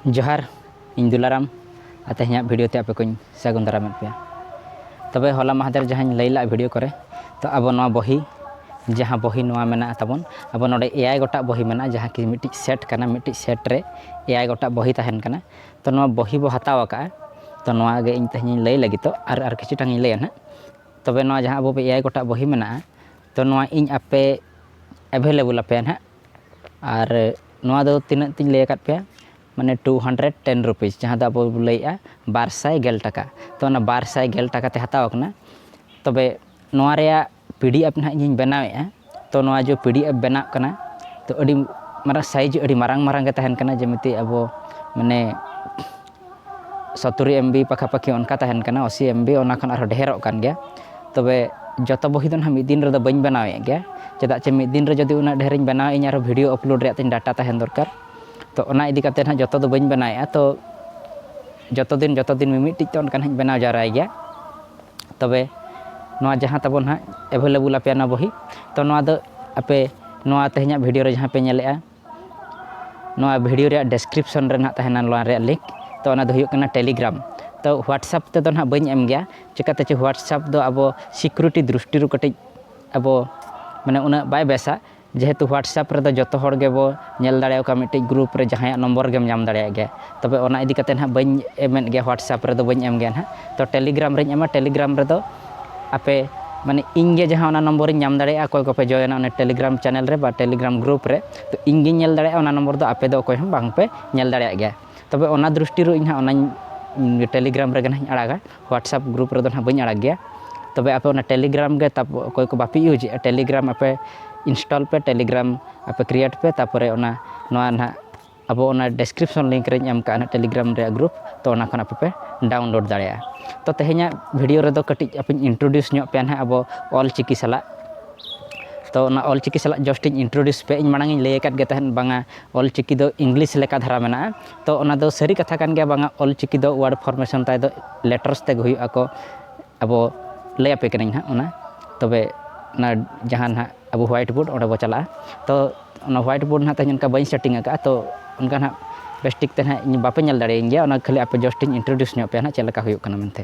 ᱡᱚᱦᱟᱨ ᱤᱧ ᱫᱩᱞᱟᱨᱟᱢ ᱟᱨ ᱛᱮᱦᱮᱧᱟᱜ ᱵᱷᱤᱰᱤᱭᱳ ᱛᱮ ᱟᱯᱮ ᱠᱚᱧ ᱥᱟᱹᱜᱩᱱ ᱫᱟᱨᱟᱢᱮᱫ ᱯᱮᱭᱟ ᱛᱚᱵᱮ ᱦᱚᱞᱟ ᱢᱟᱦᱫᱮᱨ ᱡᱟᱦᱟᱸᱧ ᱞᱟᱹᱭ ᱞᱮᱫ ᱵᱷᱤᱰᱤᱭᱳ ᱠᱚᱨᱮ ᱛᱚ ᱟᱵᱚ ᱱᱚᱣᱟ ᱵᱚᱦᱤ ᱡᱟᱦᱟᱸ ᱵᱚᱦᱤ ᱱᱚᱣᱟ ᱢᱮᱱᱟᱜᱼᱟ ᱛᱟᱵᱚᱱ ᱟᱵᱚ ᱱᱚᱰᱮ ᱮᱭᱟᱭ ᱜᱚᱴᱟᱝ ᱵᱚᱦᱤ ᱢᱮᱱᱟᱜᱼᱟ ᱡᱟᱦᱟᱸ ᱠᱤ ᱢᱤᱫᱴᱤᱡ ᱥᱮᱴ ᱠᱟᱱᱟ ᱢᱤᱫᱴᱤᱡ ᱥᱮᱴ ᱨᱮ ᱮᱭᱟᱭ ᱜᱚᱴᱟᱝ ᱵᱚᱦᱤ ᱛᱟᱦᱮᱱ ᱠᱟᱱᱟ ᱛᱚ ᱱᱚᱣᱟ ᱵᱚᱦᱤ ᱵᱚ ᱦᱟᱛᱟᱣ ᱟᱠᱟᱫᱼᱟ ᱛᱚ ᱱᱚᱣᱟ ᱜᱮ ᱤᱧ ᱛᱮᱦᱮᱧᱤᱧ ᱞᱟᱹᱭ ᱞᱟᱹᱜᱤᱫᱚᱜ ᱟᱨ ᱟᱨ ᱠᱤᱪᱷᱩ ᱴᱟᱝ ᱤᱧ ᱞᱟᱹᱭᱟ ᱦᱟᱸᱜ ᱛᱚᱵᱮ ᱱᱚᱣᱟ ᱡᱟᱦᱟᱸ ᱟᱵᱚ ᱮᱭᱟᱭ ᱜᱚᱴᱟᱝ ᱵᱚᱦᱤ ᱢᱮᱱᱟᱜᱼᱟ ᱛᱚ ᱱᱚᱣᱟ ᱤᱧ ᱟᱯᱮ ᱮᱵᱷᱮᱞᱮᱵᱚᱞ ᱟᱯᱮᱭᱟ ᱦᱟᱸᱜ ᱟᱨ ᱱᱚᱣᱟ ᱫᱚ ᱛᱤᱱᱟᱹᱜ ᱛᱤᱧ ᱞᱟᱹᱭ ᱟᱠᱟᱫ ᱯᱮᱭᱟ ᱢᱟᱱᱮ ᱴᱩ ᱦᱟᱱᱰᱨᱮᱰ ᱴᱮᱱ ᱨᱩᱯᱤᱡᱽ ᱡᱟᱦᱟᱸ ᱫᱚ ᱟᱵᱚ ᱵᱚᱱ ᱞᱟᱹᱭᱮᱫᱼᱟ ᱵᱟᱨ ᱥᱟᱭ ᱜᱮᱞ ᱴᱟᱠᱟ ᱛᱚ ᱚᱱᱟ ᱵᱟᱨ ᱥᱟᱭ ᱜᱮᱞ ᱴᱟᱠᱟ ᱛᱮ ᱦᱟᱛᱟᱣ ᱠᱟᱱᱟ ᱛᱚᱵᱮ ᱱᱚᱣᱟ ᱨᱮᱭᱟᱜ ᱯᱤ ᱰᱤ ᱮᱯᱷ ᱱᱟᱦᱟᱜ ᱤᱧᱤᱧ ᱵᱮᱱᱟᱣᱮᱫᱼᱟ ᱛᱚ ᱱᱚᱣᱟ ᱡᱮ ᱯᱤ ᱰᱤ ᱮᱯᱷ ᱵᱮᱱᱟᱜ ᱠᱟᱱᱟ ᱛᱚ ᱟᱹᱰᱤ ᱢᱟᱨᱟᱝ ᱥᱟᱭᱤᱡᱽ ᱟᱹᱰᱤ ᱢᱟᱨᱟᱝ ᱢᱟᱨᱟᱝ ᱜᱮ ᱛᱟᱦᱮᱱ ᱠᱟᱱᱟ ᱡᱮᱢᱤᱛᱤ ᱟᱵᱚ ᱢᱟᱱᱮ ᱥᱚᱛᱩᱨᱤ ᱮᱢ ᱵᱤ ᱯᱟᱠᱷᱟᱯᱟᱠᱷᱤ ᱚᱱᱠᱟ ᱛᱟᱦᱮᱱ ᱠᱟᱱᱟ ᱟᱥᱤ ᱮᱢ ᱵᱤ ᱚᱱᱟ ᱠᱷᱚᱱ ᱟᱨᱦᱚᱸ ᱰᱷᱮᱨᱚᱜ ᱠᱟᱱ ᱜᱮᱭᱟ ᱛᱚᱵᱮ ᱡᱚᱛᱚ ᱵᱚᱦᱤ ᱫᱚ ᱱᱟᱦᱟᱜ ᱢᱤᱫ ᱫᱤᱱ ᱨᱮᱫᱚ ᱵᱟᱹᱧ ᱵᱮᱱᱟᱣᱮᱫ ᱜᱮᱭᱟ ᱪᱮᱫᱟᱜ ᱪᱮ ᱢᱤᱫ ᱫᱤᱱ ᱨᱮ ᱡᱩᱫᱤ ᱩᱱᱟᱹᱜ ᱰᱷᱮᱨ ᱤᱧ ᱵᱮᱱᱟᱣᱟ ᱤᱧ ᱟᱨᱦᱚᱸ ᱵᱷᱤᱰᱭᱳ ᱟᱯᱞᱳᱰ ᱨᱮᱭᱟᱜ ᱛᱤᱧ ᱰᱟᱴᱟ ᱛᱟᱦᱮᱱ ᱫᱚᱨᱠᱟᱨ ᱛᱚ ᱚᱱᱟ ᱤᱫᱤ ᱠᱟᱛᱮᱫ ᱱᱟᱦᱟᱜ ᱡᱚᱛᱚ ᱫᱚ ᱵᱟᱹᱧ ᱵᱮᱱᱟᱣᱮᱫᱼᱟ ᱛᱚ ᱡᱚᱛᱚ ᱫᱤᱱ ᱡᱚᱛᱚ ᱫᱤᱱ ᱢᱤᱢᱤᱫᱴᱤᱡ ᱛᱮ ᱚᱱᱠᱟ ᱱᱟᱦᱟᱜ ᱤᱧ ᱵᱮᱱᱟᱣ ᱡᱟᱣᱨᱟᱭ ᱜᱮᱭᱟ ᱛᱚᱵᱮ ᱱᱚᱣᱟ ᱡᱟᱦᱟᱸ ᱛᱟᱵᱚᱱ ᱱᱟᱦᱟᱜ ᱮᱵᱷᱮᱞᱮᱵᱚᱞ ᱟᱯᱮᱭᱟᱜ ᱱᱚᱣᱟ ᱵᱚᱦᱤ ᱛᱚ ᱱᱚᱣᱟ ᱫᱚ ᱟᱯᱮ ᱱᱚᱣᱟ ᱛᱮᱦᱮᱧᱟᱜ ᱵᱷᱤᱰᱭᱳ ᱨᱮ ᱡᱟᱦᱟᱸ ᱯᱮ ᱧᱮᱞᱮᱫᱼᱟ ᱱᱚᱣᱟ ᱵᱷᱤᱰᱤᱭᱳ ᱨᱮᱭᱟᱜ ᱰᱮᱥᱠᱨᱤᱯᱥᱚᱱ ᱨᱮ ᱱᱟᱦᱟᱜ ᱛᱟᱦᱮᱱᱟ ᱱᱚᱣᱟ ᱨᱮᱭᱟᱜ ᱞᱤᱝᱠ ᱛᱚ ᱚᱱᱟ ᱫᱚ ᱦᱩᱭᱩᱜ ᱠᱟᱱᱟ ᱴᱮᱞᱤᱜᱨᱟᱢ ᱛᱚ ᱦᱳᱣᱟᱴᱥᱮᱯ ᱛᱮᱫᱚ ᱱᱟᱦᱟᱜ ᱵᱟᱹᱧ ᱮᱢ ᱜᱮᱭᱟ ᱪᱤᱠᱟᱹᱛᱮ ᱪᱚ ᱦᱳᱣᱟᱴᱥᱮᱯ ᱫᱚ ᱟᱵᱚ ᱥᱤᱠᱩᱨᱤᱴᱤ ᱫᱨᱤᱥᱴᱤ ᱨᱮ ᱠᱟᱹᱴᱤᱡ ᱟᱵᱚ ᱢᱟᱱᱮ ᱩᱱᱟᱹᱜ ᱵᱟᱭ ᱵᱮᱥᱟ ᱡᱮᱦᱮᱛᱩ ᱦᱳᱣᱟᱴᱥᱮᱯ ᱨᱮᱫᱚ ᱡᱚᱛᱚ ᱦᱚᱲ ᱜᱮᱵᱚ ᱧᱮᱞ ᱫᱟᱲᱮ ᱟᱠᱚᱣᱟ ᱢᱤᱫᱴᱤᱡ ᱜᱨᱩᱯ ᱨᱮ ᱡᱟᱦᱟᱸᱭᱟᱜ ᱱᱚᱢᱵᱚᱨ ᱜᱮᱢ ᱧᱟᱢ ᱫᱟᱲᱮᱭᱟᱜ ᱜᱮᱭᱟ ᱛᱚᱵᱮ ᱚᱱᱟ ᱤᱫᱤ ᱠᱟᱛᱮᱫ ᱱᱟᱦᱟᱜ ᱵᱟᱹᱧ ᱮᱢᱮᱫ ᱜᱮᱭᱟ ᱦᱳᱣᱟᱴᱥᱮᱯ ᱨᱮᱫᱚ ᱵᱟᱹᱧ ᱮᱢ ᱜᱮᱭᱟ ᱱᱟᱦᱟᱜ ᱛᱚ ᱴᱮᱞᱤᱜᱨᱟᱢ ᱨᱤᱧ ᱮᱢᱟ ᱴᱮᱞᱤᱜᱨᱟᱢ ᱨᱮᱫᱚ ᱟᱯᱮ ᱢᱟᱱᱮ ᱤᱧ ᱜᱮ ᱡᱟᱦᱟᱸ ᱚᱱᱟ ᱱᱚᱢᱵᱚᱨ ᱤᱧ ᱧᱟᱢ ᱫᱟᱲᱮᱭᱟᱜᱼᱟ ᱚᱠᱚᱭ ᱠᱚᱯᱮ ᱡᱚᱭᱮᱱᱟ ᱚᱱᱟ ᱴᱮᱞᱤᱜᱨᱟᱢ ᱪᱮᱱᱮᱞ ᱨᱮ ᱵᱟ ᱴᱮᱞᱤᱜᱨᱟᱢ ᱜᱨᱩᱯ ᱨᱮ ᱛᱚ ᱤᱧ ᱜᱮᱧ ᱧᱮᱞ ᱫᱟᱲᱮᱭᱟᱜᱼᱟ ᱚᱱᱟ ᱱᱚᱢᱵᱚᱨ ᱫᱚ ᱟᱯᱮ ᱫᱚ ᱚᱠᱚᱭ ᱦᱚᱸ ᱵᱟᱝ ᱯᱮ ᱧᱮᱞ ᱫᱟᱲᱮᱭᱟᱜ ᱜᱮᱭᱟ ᱛᱚᱵᱮ ᱚᱱᱟ ᱫᱨᱤᱥᱴᱤ ᱨᱮ ᱤᱧ ᱦᱟᱸᱜ ᱚᱱᱟᱧ ᱴᱮᱞᱤᱜᱨᱟᱢ ᱨᱮᱜᱮ ᱦᱟᱸᱜ ᱤᱧ ᱟᱲᱟᱜᱟ ᱦᱳᱣᱟᱴᱥᱮᱯ ᱜᱨᱩᱯ ᱨᱮᱫᱚ ᱦᱟᱸᱜ ᱵᱟᱹᱧ ᱟᱲᱟᱜ ᱜᱮᱭᱟ ᱛᱚᱵᱮ ᱟᱯᱮ ᱚᱱᱟ ᱴᱮᱞᱤᱜᱨᱟᱢ ᱜᱮ ᱛᱟᱯᱚᱨ ᱚᱠᱚᱭ ᱠᱚ ᱵᱟᱯᱮ ᱤᱭᱩᱡᱮᱜᱼᱟ ᱴᱮᱞᱤᱜᱨᱟᱢ ᱟᱯᱮ ᱤᱱᱥᱴᱚᱞ ᱯᱮ ᱴᱮᱞᱤᱜᱨᱟᱢ ᱟᱯᱮ ᱠᱨᱤᱭᱮᱴ ᱯᱮ ᱛᱟᱨᱯᱚᱨᱮ ᱚᱱᱟ ᱱᱚᱣᱟ ᱦᱟᱸᱜ ᱟᱵᱚ ᱚᱱᱟ ᱰᱮᱥᱠᱨᱤᱯᱥᱚᱱ ᱞᱤᱝᱠ ᱨᱮᱧ ᱮᱢ ᱠᱟᱜᱼᱟ ᱱᱟᱦᱟᱜ ᱴᱮᱞᱤᱜᱨᱟᱢ ᱨᱮᱭᱟᱜ ᱜᱨᱩᱯ ᱛᱚ ᱚᱱᱟ ᱠᱷᱚᱱ ᱟᱯᱮ ᱯᱮ ᱰᱟᱣᱩᱱᱞᱳᱰ ᱫᱟᱲᱮᱭᱟᱜᱼᱟ ᱛᱚ ᱛᱮᱦᱮᱧᱟᱜ ᱵᱷᱤᱰᱤᱭᱳ ᱨᱮᱫᱚ ᱠᱟᱹᱴᱤᱡ ᱟᱯᱮᱧ ᱤᱱᱴᱨᱳᱰᱤᱭᱩᱥ ᱧᱚᱜ ᱯᱮᱭᱟ ᱱᱟᱦᱟᱜ ᱟᱵᱚ ᱚᱞ ᱪᱤᱠᱤ ᱥᱟᱞᱟᱜ ᱛᱚ ᱚᱱᱟ ᱚᱞ ᱪᱤᱠᱤ ᱥᱟᱞᱟᱜ ᱡᱟᱥᱴ ᱤᱧ ᱤᱱᱴᱨᱳᱰᱤᱭᱩᱥ ᱯᱮᱭᱟ ᱤᱧ ᱢᱟᱲᱟᱝ ᱤᱧ ᱞᱟᱹᱭ ᱟᱠᱟᱫ ᱜᱮ ᱛᱟᱦᱮᱸᱫ ᱵᱟᱝᱟ ᱚᱞ ᱪᱤᱠᱤ ᱫᱚ ᱤᱝᱞᱤᱥ ᱞᱮᱠᱟ ᱫᱷᱟᱨᱟ ᱢᱮᱱᱟᱜᱼᱟ ᱛᱚ ᱚᱱᱟ ᱫᱚ ᱥᱟᱹᱨᱤ ᱠᱟᱛᱷᱟ ᱠᱟᱱ ᱜᱮᱭᱟ ᱵᱟᱝᱟ ᱚᱞ ᱪᱤᱠᱤ ᱫᱚ ᱚᱣᱟᱨᱰ ᱯᱷᱚᱨᱢᱮᱥᱚᱱ ᱛᱟᱭ ᱫᱚ ᱞᱮᱴᱟᱨᱥ ᱛᱮᱜᱮ ᱦᱩᱭᱩᱜ ᱟᱠᱚ ᱟᱵᱚ ᱞᱟᱹᱭ ᱟᱯᱮ ᱠᱟᱹᱱᱟᱹᱧ ᱦᱟᱸᱜ ᱚᱱᱟ ᱛᱚᱵᱮ ᱚᱱᱟ ᱡᱟᱦᱟᱸ ᱱᱟᱦᱟᱜ ᱟᱵᱚ ᱦᱳᱣᱟᱭᱤᱴ ᱵᱳᱨᱰ ᱚᱸᱰᱮ ᱵᱚ ᱪᱟᱞᱟᱜᱼᱟ ᱛᱚ ᱚᱱᱟ ᱦᱳᱣᱟᱭᱤᱴ ᱵᱳᱨᱰ ᱱᱟᱦᱟᱜ ᱛᱮᱦᱮᱧ ᱚᱱᱠᱟ ᱵᱟᱹᱧ ᱥᱮᱴᱤᱝ ᱟᱠᱟᱫᱼᱟ ᱛᱚ ᱚᱱᱠᱟ ᱱᱟᱦᱟᱜ ᱵᱮᱥ ᱴᱷᱤᱠ ᱛᱮ ᱱᱟᱦᱟᱜ ᱵᱟᱯᱮ ᱧᱮᱞ ᱫᱟᱲᱮᱭᱟᱹᱧ ᱜᱮᱭᱟ ᱚᱱᱟ ᱠᱷᱟᱹᱞᱤ ᱟᱯᱮ ᱡᱟᱥᱴ ᱤᱧ ᱤᱱᱴᱨᱳᱰᱤᱭᱩᱥ ᱧᱚᱜ ᱟᱯᱮᱭᱟ ᱱᱟᱦᱟᱜ ᱪᱮᱫ ᱞᱮᱠᱟ ᱦᱩᱭᱩᱜ ᱠᱟᱱᱟ ᱢᱮᱱᱛᱮ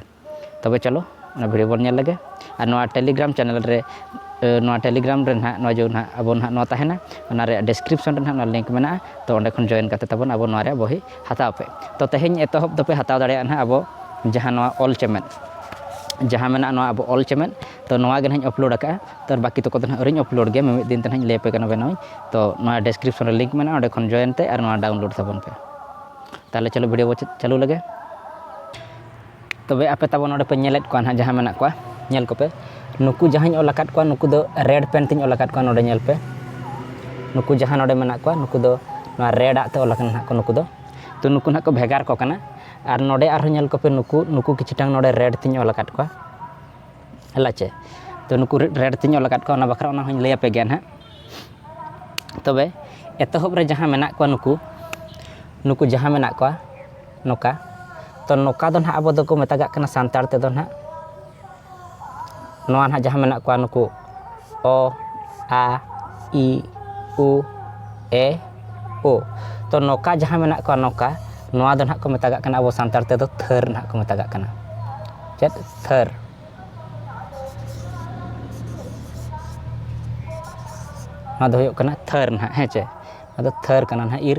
ᱛᱚᱵᱮ ᱪᱚᱞᱚ ᱚᱱᱟ ᱵᱷᱤᱰᱭᱳ ᱵᱚᱱ ᱧᱮᱞ ᱞᱮᱜᱮ ᱟᱨ ᱱᱚᱣᱟ ᱴᱮᱞᱤᱜᱨᱟᱢ ᱪᱮᱱᱮᱞ ᱨᱮ ᱱᱚᱣᱟ ᱴᱮᱞᱤᱜᱨᱟᱢ ᱨᱮ ᱱᱟᱦᱟᱜ ᱱᱚᱣᱟ ᱡᱮ ᱱᱟᱦᱟᱜ ᱟᱵᱚ ᱱᱟᱦᱟᱜ ᱱᱚᱣᱟ ᱛᱟᱦᱮᱱᱟ ᱚᱱᱟ ᱨᱮᱭᱟᱜ ᱰᱤᱥᱠᱨᱤᱯᱥᱚᱱ ᱨᱮ ᱱᱟᱦᱟᱜ ᱚᱱᱟ ᱞᱤᱝᱠ ᱢᱮᱱᱟᱜᱼᱟ ᱛᱚ ᱚᱸᱰᱮ ᱠᱷᱚᱱ ᱡᱚᱭᱮᱱ ᱠᱟᱛᱮᱫ ᱛᱟᱵᱚᱱ ᱟᱵᱚ ᱱᱚᱣᱟ ᱨᱮᱭᱟᱜ ᱵᱚᱦᱤ ᱦᱟᱛᱟᱣ ᱯᱮ ᱛᱚ ᱛᱮᱦᱮᱧ ᱮᱛᱚᱦᱚᱵ ᱫᱚᱯᱮ ᱦᱟᱛᱟᱣ ᱫᱟᱲᱮᱭᱟᱜᱼᱟ ᱱᱟᱦᱟᱜ ᱟᱵᱚ ᱡᱟᱦᱟᱸ ᱱᱚᱣᱟ ᱚᱞ ᱪᱮᱢᱮᱫ ᱡᱟᱦᱟᱸ ᱢᱮᱱᱟᱜᱼᱟ ᱱᱚᱣᱟ ᱟᱵᱚ ᱚᱞ ᱪᱮᱢᱮᱫ ᱛᱚ ᱱᱚᱣᱟ ᱜᱮ ᱱᱟᱦᱟᱜ ᱤᱧ ᱟᱯᱞᱳᱰ ᱟᱠᱟᱫᱼᱟ ᱛᱚ ᱵᱟᱹᱠᱤ ᱛᱚᱠᱚ ᱫᱚ ᱱᱟᱦᱟᱜ ᱟᱹᱣᱨᱤᱧ ᱟᱯᱞᱳᱰ ᱜᱮᱭᱟ ᱢᱤᱢᱤᱫ ᱫᱤᱱ ᱛᱮ ᱱᱟᱦᱟᱜ ᱤᱧ ᱞᱟᱹᱭ ᱟᱯᱮ ᱠᱟᱱᱟ ᱵᱮᱱᱟᱣ ᱟᱹᱧ ᱛᱚ ᱱᱚᱣᱟ ᱰᱮᱥᱠᱨᱤᱯᱥᱚᱱ ᱨᱮ ᱞᱤᱝᱠ ᱢᱮᱱᱟᱜᱼᱟ ᱚᱸᱰᱮ ᱠᱷᱚᱱ ᱡᱚᱭᱮᱱ ᱛᱮ ᱟᱨ ᱱᱚᱣᱟ ᱰᱟᱣᱩᱱᱞᱳᱰ ᱛᱟᱵᱚᱱ ᱯᱮ ᱛᱟᱦᱚᱞᱮ ᱪᱚᱞᱚ ᱵᱷᱤᱰᱭᱳ ᱵᱚᱱ ᱪᱟᱹᱞᱩ ᱞᱮᱜᱮ ᱛᱚᱵᱮ ᱟᱯᱮ ᱛᱟᱵᱚ ᱱᱚᱰᱮ ᱯᱮ ᱧᱮᱞᱮᱫ ᱠᱚᱣᱟ ᱱᱟᱦᱟᱜ ᱡᱟᱦᱟᱸ ᱢᱮᱱᱟᱜ ᱠᱚᱣᱟ ᱧᱮᱞ ᱠᱚᱯᱮ ᱱᱩᱠᱩ ᱡᱟᱦᱟᱸᱧ ᱚᱞ ᱟᱠᱟᱫ ᱠᱚᱣᱟ ᱱᱩᱠᱩ ᱫᱚ ᱨᱮᱰ ᱯᱮᱱ ᱛᱤᱧ ᱚᱞ ᱟᱠᱟᱫ ᱠᱚᱣᱟ ᱱᱚᱰᱮ ᱧᱮᱞ ᱯᱮ ᱱᱩᱠᱩ ᱡᱟᱦᱟᱸ ᱱᱚᱰᱮ ᱢᱮᱱᱟᱜ ᱠᱚᱣᱟ ᱱᱩᱠᱩ ᱫᱚ ᱱᱚᱣᱟ ᱨᱮᱰ ᱟᱜ ᱛᱮ ᱚᱞ ᱟᱠᱟᱱᱟ ᱱᱟᱦᱟᱜ ᱠᱚ ᱱᱩᱠᱩ ᱫᱚ ᱛᱚ ᱱᱩᱠᱩ ᱱᱟᱦᱟᱜ ᱠᱚ ᱵᱷᱮᱜᱟᱨ ᱠᱚ ᱠᱟᱱᱟ ᱟᱨ ᱱᱚᱰᱮ ᱟᱨᱦᱚᱸ ᱧᱮᱞ ᱠᱚᱯᱮ ᱱᱩᱠᱩ ᱱᱩᱠᱩ ᱠᱤᱪᱷᱩᱴᱟᱝ ᱱᱚᱰᱮ ᱨᱮᱰ ᱛᱤᱧ ᱚᱞ ᱟᱠᱟᱫ ᱠᱚᱣᱟ ᱦᱮᱞᱟ ᱪᱮ ᱛᱚ ᱱᱩᱠᱩ ᱨᱮᱰ ᱛᱤᱧ ᱚᱞ ᱟᱠᱟᱫ ᱠᱚᱣᱟ ᱚᱱᱟ ᱵᱟᱠᱷᱨᱟ ᱚᱱᱟ ᱦᱚᱸᱧ ᱞᱟᱹᱭ ᱟᱯᱮ ᱜᱮᱭᱟ ᱱᱟᱦᱟᱜ ᱛᱚᱵᱮ ᱮᱛᱚᱦᱚᱵ ᱨᱮ ᱡᱟᱦᱟᱸ ᱢᱮᱱᱟᱜ ᱠᱚᱣᱟ ᱱᱩᱠᱩ ᱱᱩᱠᱩ ᱡᱟᱦᱟᱸ ᱢᱮᱱᱟᱜ ᱠᱚᱣᱟ ᱱᱚᱠᱟ ᱛᱚ ᱱᱚᱠᱟ ᱫᱚ ᱱᱟᱦᱟᱜ ᱟᱵᱚ ᱫᱚᱠᱚ ᱢᱮᱛᱟᱜᱟᱜ ᱠᱟᱱᱟ ᱥᱟᱱᱛᱟᱲ ᱛᱮᱫᱚ ᱱᱟᱦᱟᱜ ᱱᱚᱣᱟ ᱱᱟᱦᱟᱜ ᱡᱟᱦᱟᱸ ᱢᱮᱱᱟᱜ ᱠᱚᱣᱟ ᱱᱩᱠᱩ ᱚ ᱟ ᱤ ᱩ ᱮ ᱳ ᱛᱚ ᱱᱚᱠᱟ ᱡᱟᱦᱟᱸ ᱢᱮᱱᱟᱜ ᱠᱚᱣᱟ ᱱᱚᱠᱟ ᱱᱚᱣᱟ ᱫᱚ ᱱᱟᱦᱟᱜ ᱠᱚ ᱢᱮᱛᱟᱜᱟᱜ ᱠᱟᱱᱟ ᱟᱵᱚ ᱥᱟᱱᱛᱟᱲ ᱛᱮᱫᱚ ᱛᱷᱟᱹᱨ ᱱᱟᱦᱟᱜ ᱠᱚ ᱢᱮᱛᱟᱜᱟᱜ ᱠᱟᱱᱟ ᱪᱮᱫ ᱛᱷᱟᱹᱨ ᱱᱚᱣᱟ ᱫᱚ ᱦᱩᱭᱩᱜ ᱠᱟᱱᱟ ᱛᱷᱟᱹᱨ ᱱᱟᱦᱟᱜ ᱦᱮᱸ ᱪᱮ ᱟᱫᱚ ᱛᱷᱟᱹᱨ ᱠᱟᱱᱟ ᱱᱟᱦᱟᱜ ᱤᱨ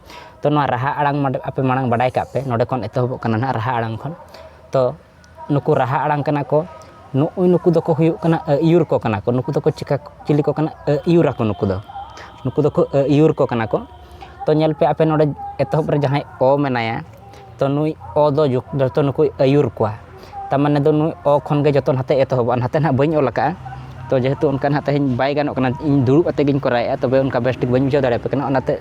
ᱛᱚ ᱱᱚᱣᱟ ᱨᱟᱦᱟ ᱟᱲᱟᱝ ᱟᱯᱮ ᱢᱟᱲᱟᱝ ᱵᱟᱰᱟᱭ ᱠᱟᱜ ᱯᱮ ᱱᱚᱰᱮ ᱠᱷᱚᱱ ᱮᱛᱚᱦᱚᱵᱚᱜ ᱠᱟᱱᱟ ᱦᱟᱸᱜ ᱨᱟᱦᱟ ᱟᱲᱟᱝ ᱠᱷᱚᱱ ᱛᱚ ᱱᱩᱠᱩ ᱨᱟᱦᱟ ᱟᱲᱟᱝ ᱠᱟᱱᱟ ᱠᱚ ᱱᱩᱜᱼᱩ ᱱᱩᱠᱩ ᱫᱚᱠᱚ ᱦᱩᱭᱩᱜ ᱠᱟᱱᱟ ᱟᱹᱭᱩᱨ ᱠᱚ ᱠᱟᱱᱟ ᱠᱚ ᱱᱩᱠᱩ ᱫᱚᱠᱚ ᱪᱤᱠᱟ ᱪᱤᱞᱤ ᱠᱚ ᱠᱟᱱᱟ ᱟᱹᱭᱩᱨ ᱟᱠᱚ ᱱᱩᱠᱩ ᱫᱚ ᱱᱩᱠᱩ ᱫᱚᱠᱚ ᱟᱹᱭᱩᱨ ᱠᱚ ᱠᱟᱱᱟ ᱠᱚ ᱛᱚ ᱧᱮᱞ ᱯᱮ ᱟᱯᱮ ᱱᱚᱰᱮ ᱮᱛᱚᱦᱚᱵ ᱨᱮ ᱡᱟᱦᱟᱸᱭ ᱚ ᱢᱮᱱᱟᱭᱟ ᱛᱚ ᱱᱩᱭ ᱚ ᱫᱚ ᱡᱚᱛᱚ ᱱᱩᱠᱩᱭ ᱟᱹᱭᱩᱨ ᱠᱚᱣᱟ ᱛᱟᱨ ᱢᱟᱱᱮ ᱫᱚ ᱱᱩᱭ ᱚ ᱠᱷᱚᱱ ᱜᱮ ᱡᱚᱛᱚ ᱱᱟᱛᱮ ᱮᱛᱚᱦᱚᱵᱚᱜᱼᱟ ᱱᱟᱛᱮ ᱦᱟᱸᱜ ᱵᱟᱹᱧ ᱚᱞ ᱠᱟᱜᱼᱟ ᱛᱚ ᱡᱮᱦᱮᱛᱩ ᱚᱱᱠᱟ ᱦᱟᱸᱜ ᱛᱮᱦᱮᱧ ᱵᱟᱭ ᱜᱟᱱᱚᱜ ᱠᱟᱱᱟ ᱤᱧ ᱫᱩᱲᱩᱵ ᱠᱟᱛᱮᱫ ᱜᱤᱧ ᱠᱚᱨᱟᱣᱮᱫᱼᱟ ᱛᱚᱵᱮ ᱚᱱᱠᱟ ᱵᱮᱥ ᱴᱷᱤᱠ ᱵᱟᱹᱧ ᱵᱩᱡᱷᱟᱹᱣ ᱫᱟᱲᱮᱭᱟᱯᱮ ᱠᱟᱱᱟ ᱚᱱᱟᱛᱮ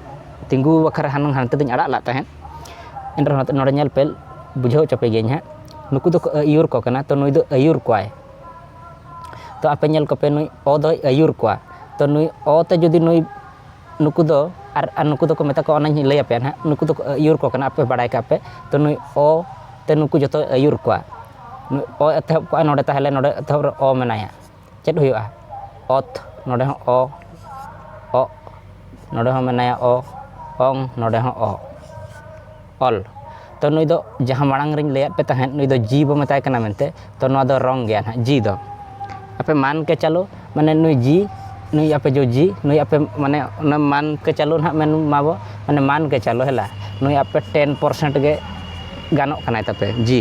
ᱛᱤᱸᱜᱩ ᱵᱟᱠᱷᱨᱟ ᱦᱩᱱᱟᱹᱝ ᱦᱟᱱᱛᱮ ᱫᱚᱧ ᱟᱲᱟᱜ ᱞᱮᱫ ᱛᱟᱦᱮᱸᱫ ᱮᱱ ᱨᱮᱦᱚᱸ ᱱᱚᱰᱮ ᱧᱮᱞ ᱯᱮ ᱵᱩᱡᱷᱟᱹᱣ ᱦᱚᱪᱚ ᱯᱮ ᱜᱤᱭᱟᱹᱧ ᱦᱟᱸᱜ ᱱᱩᱠᱩ ᱫᱚᱠᱚ ᱟᱹᱭᱩᱨ ᱠᱚ ᱠᱟᱱᱟ ᱛᱳ ᱱᱩᱭ ᱫᱚ ᱟᱹᱭᱩᱨ ᱠᱚᱣᱟᱭ ᱛᱳ ᱟᱯᱮ ᱧᱮᱞ ᱠᱚᱯᱮ ᱱᱩᱭ ᱚ ᱫᱚᱭ ᱟᱹᱭᱩᱨ ᱠᱚᱣᱟ ᱛᱳ ᱱᱩᱭ ᱚ ᱛᱮ ᱡᱩᱫᱤ ᱱᱩᱭ ᱱᱩᱠᱩ ᱫᱚ ᱟᱨ ᱱᱩᱠᱩ ᱫᱚᱠᱚ ᱢᱮᱛᱟ ᱠᱚᱣᱟ ᱚᱱᱟᱧ ᱞᱟᱹᱭ ᱟᱯᱮᱭᱟ ᱦᱟᱸᱜ ᱱᱩᱠᱩ ᱫᱚᱠᱚ ᱟᱹᱭᱩᱨ ᱠᱚ ᱠᱟᱱᱟ ᱟᱯᱮ ᱵᱟᱲᱟᱭ ᱠᱟᱜ ᱯᱮ ᱛᱳ ᱱᱩᱭ ᱚ ᱛᱮ ᱱᱩᱠᱩ ᱡᱚᱛᱚᱭ ᱟᱹᱭᱩᱨ ᱠᱚᱣᱟ ᱱᱩᱭ ᱚ ᱮᱛᱚᱦᱚᱵ ᱠᱚᱜᱼᱟᱭ ᱱᱚᱰᱮ ᱛᱟᱦᱚᱞᱮ ᱱᱚᱰᱮ ᱮᱛᱚᱦᱚᱵ ᱨᱮ ᱚ ᱢᱮᱱᱟᱭᱟ ᱪᱮᱫ ᱦᱩᱭᱩᱜᱼᱟ ᱚᱛ ᱱᱚᱰᱮ ᱦᱚᱸ ᱚ ᱚᱜ ᱱᱚᱰᱮ ᱦᱚᱸ ᱢᱮᱱᱟᱭᱟ ᱚ ᱚᱝ ᱱᱚᱰᱮ ᱦᱚᱸ ᱚ ᱚᱞ ᱛᱚ ᱱᱩᱭ ᱫᱚ ᱡᱟᱦᱟᱸ ᱢᱟᱲᱟᱝ ᱨᱤᱧ ᱞᱟᱹᱭᱟᱫ ᱯᱮ ᱛᱟᱦᱮᱸᱫ ᱱᱩᱭ ᱫᱚ ᱡᱤ ᱵᱚᱱ ᱢᱮᱛᱟᱭ ᱠᱟᱱᱟ ᱢᱮᱱᱛᱮ ᱛᱚ ᱱᱚᱣᱟ ᱫᱚ ᱨᱚᱝ ᱜᱮᱭᱟ ᱦᱟᱸᱜ ᱡᱤ ᱫᱚ ᱟᱯᱮ ᱢᱟᱱ ᱠᱮ ᱪᱟᱞᱳ ᱢᱟᱱᱮ ᱱᱩᱭ ᱡᱤ ᱱᱩᱭ ᱟᱯᱮ ᱡᱚ ᱡᱤ ᱱᱩᱭ ᱟᱯᱮ ᱢᱟᱱᱮ ᱚᱱᱟ ᱢᱟᱱ ᱠᱮ ᱪᱟᱞᱳ ᱦᱟᱸᱜ ᱢᱮᱱ ᱢᱟᱵᱚ ᱢᱟᱱᱮ ᱢᱟᱱ ᱠᱮ ᱪᱟᱞᱳ ᱦᱮᱞᱟ ᱱᱩᱭ ᱟᱯᱮ ᱴᱮᱱ ᱯᱟᱨᱥᱮᱱᱴ ᱜᱮ ᱜᱟᱱᱚᱜ ᱠᱟᱱᱟᱭ ᱛᱟᱯᱮ ᱡᱤ